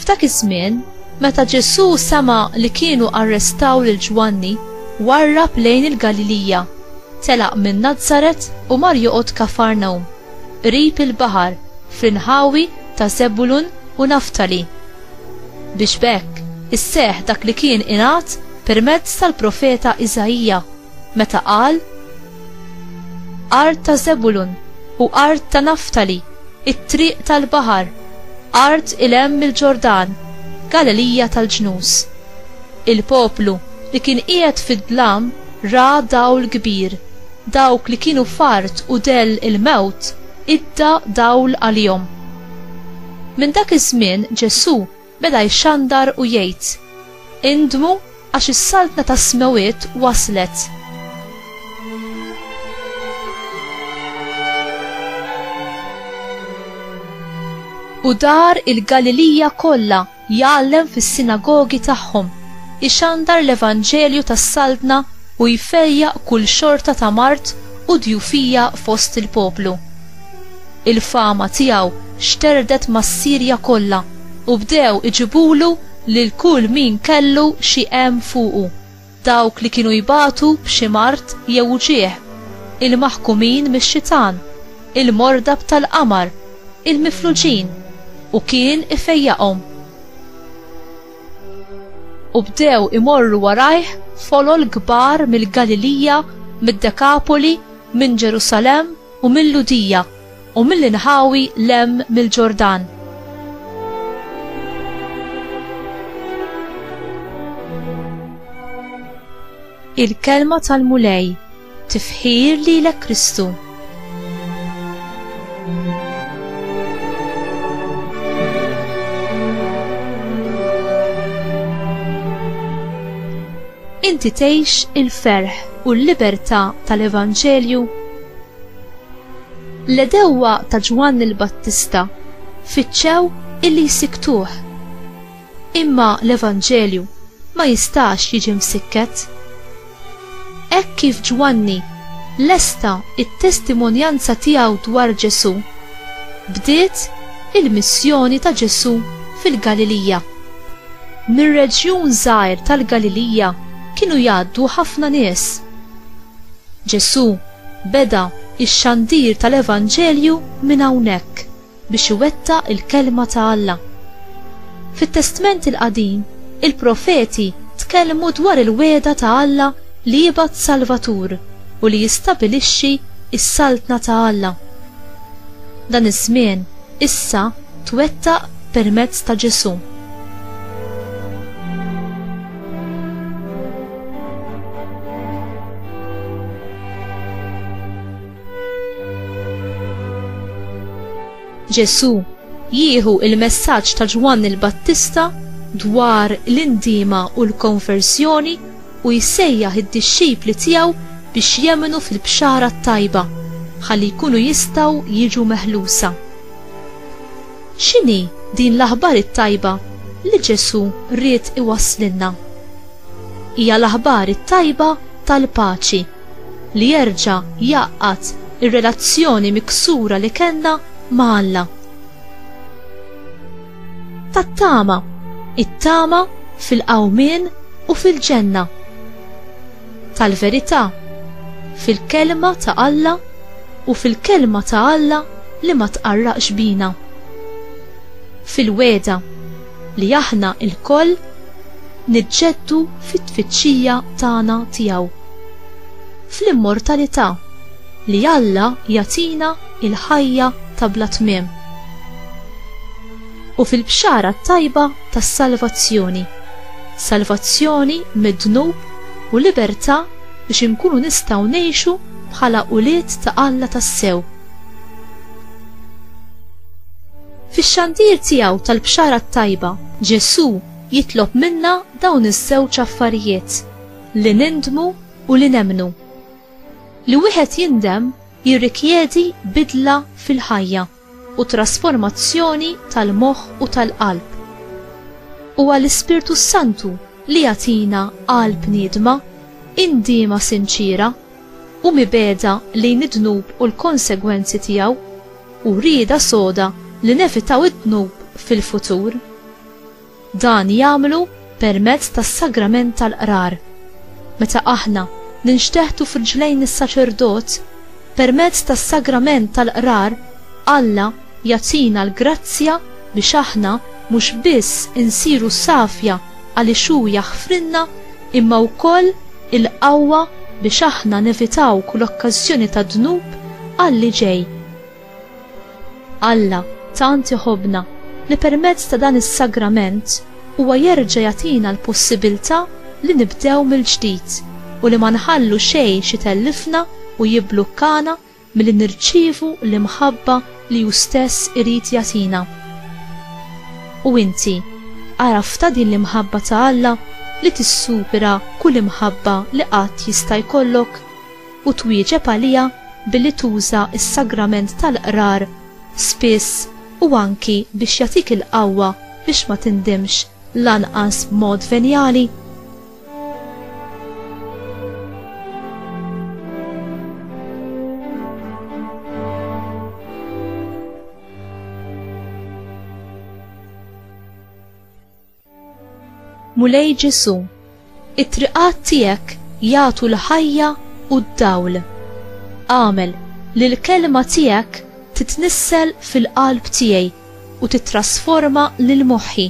F'dak iż-żmien, meta Ġesù sema' li kienu arrestaw lil Ġwanni, warrab lejn il-Galilija, telaq minn Nazaret u mar joqgħod Kafarnawm, qrib il-baħar, fl-inħawi ta' Żebulun u Naftali, biex b'hekk isseħħ dak li kien ingħad permezz tal-profeta Iżaija, meta qal, Art ta' Żebulun u art ta' Naftali, it-triq tal-baħar, art il hemm il-Ġordan, Galilija tal-ġnus. Il-poplu li kien qiegħed fid-dlam ra dawl kbir, dawk li kienu f'art u dell il-mewt idda dawl għalihom. Minn dak iż-żmien Ġesù beda jxandar u jgħid, Indmu għax is-Saltna tas-Smewwiet waslet! U dar il-Galilija kollha jgħallem fis-sinagogi tagħhom, ixandar l-Evanġelju tas-Saltna u jfejjaq kull xorta ta' mard u djufija fost il-poplu. Il-fama tiegħu xterdet mas-Sirja kollha u bdew iġibulu lil kull min kellu xi hemm fuqu, dawk li kienu jbatu b'xi mard jew uġigħ, il-maħkumin mix-xitan, il-mordab tal-qamar, il-mifluġin, u kien ifejjaqhom. U bdew imorru warajh folol kbar mill-Galilija, mid-Dekapoli, minn Ġerusalemm u mill-Lhudija, u mill-inħawi 'l hemm mill-Ġordan. Il-Kelma tal-Mulej, tifħir lilek Kristu. Inti tgħix il-ferħ u l-libertà tal-Evanġelju? L-għedewwa ta' Ġwanni l-Battista fittxew illi jsikktuh. Imma l-Evanġelju ma jistax jiġi msikket. Hekk kif Ġwanni lesta t-testimonjanza tiegħu dwar Ġesù, bdiet il-missjoni ta' Ġesù fil-Galilija. Mir-reġjun żgħir tal-Galilija kienu jgħaddu ħafna nies. Ġesù Beda x-xandir tal-evanġelju minn hawnhekk biex iwettaq il-kelma ta' Alla. Fit-Testment il-Qadim, il-profeti tkellmu dwar il-wegħda ta' Alla li jibgħat Salvatur u li jistabilixxi s-Saltna ta' Alla. Dan iż-żmien issa twettaq permezz ta' Ġesù. Ġesù jieħu il-messaġġ ta' Ġwann il-Battista dwar l-indima u l-konversjoni u jsejjaħ id-dixxipli tiegħu biex jemmnu fil-bxara t-tajba ħalli jkunu jistgħu jiġu meħlusa. X'inhi din l-aħbar it-tajba li Ġesù ried iwasslilna? Hija l-aħbar it-tajba tal-paċi, li jerġa' jgħaqqad ir-relazzjoni miksura li kellna ma' Alla. Tat-tama, it-tama fil-qawmien u fil-ġenna. tal-verità, fil-Kelma ta' Alla u fil-Kelma ta' Alla li ma tqarraqx bina. Fil-wegħda li aħna lkoll niġġeddu fit-tfittxija tagħna tiegħu. Fl-immortalità li Alla jagħtina l-ħajja ta' bla tmiem. u fil-bxara t-tajba tas-salvazzjoni, salvazzjoni mid-dnub u libertà biex inkunu nistgħu ngħixu bħala ulied ta' Alla tassew. Fix-xandir tiegħu tal-bxara t-tajba, Ġesù jitlob minna dawn iż-żewġ affarijiet, li nindmu u li nemmnu. Li wieħed jindem jirrikjedi bidla fil-ħajja. u t-trasformazzjoni tal-moħħ u tal-qalb. Huwa l-Ispirtu s-Santu li jagħtina qalb niedma, indiema sinċiera, u mibegħda lejn id-dnub u l-konsegwenzi tiegħu, u rieda soda li nevitaw id-dnub fil-futur. Dan jagħmlu permezz tas-sagrament tal-Qrar. Meta aħna ninxteħtu f'riġlejn is-saċerdot, permezz tas-sagrament tal-Qrar Alla jagħtina l-grazzja biex aħna mhux biss insiru safja għaliex hu jaħfrilna imma wkoll il-qawwa biex aħna nevitaw kull okkażjoni ta' dnub għal li ġej. Alla tant iħobbna li permezz ta' dan is-sagrament huwa jerġa' jagħtina l-possibilità li nibdew mill-ġdid u li ma nħallu xejn x'itellifna u jibblukkana milli nirċievu l-imħabba li hu stess irid jagħtina. U inti għaraftha din l-imħabba ta' Alla li tissupera kull imħabba li qatt jista' jkollok? u twieġeb għaliha billi tuża s-sagrament tal-Qrar spiss u anki biex jagħtik il-qawwa biex ma tindimx lanqas b'mod venjali? Mulej Ġesu, it-triqat tiegħek jagħtu l-ħajja u d-dawl. Għamel li l-kelma tiegħek titnissel fil-qalb tiegħi u titrasforma lil moħħi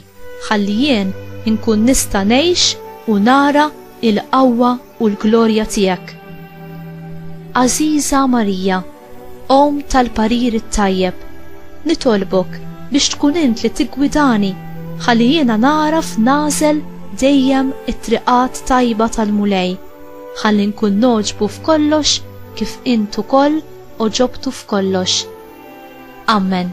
ħalli jien inkun nista' ngħix u nara il-qawwa u l-glorja tiegħek. Għażiża Marija, Omm tal-parir it-tajjeb, nitolbok biex tkun int li tiggwidani ħalli jiena nagħraf nagħżel dejjem it-triqat tajba tal-Mulej, ħalli nkun nogħġbu f'kollox kif int ukoll għoġobtu f'kollox. Amen.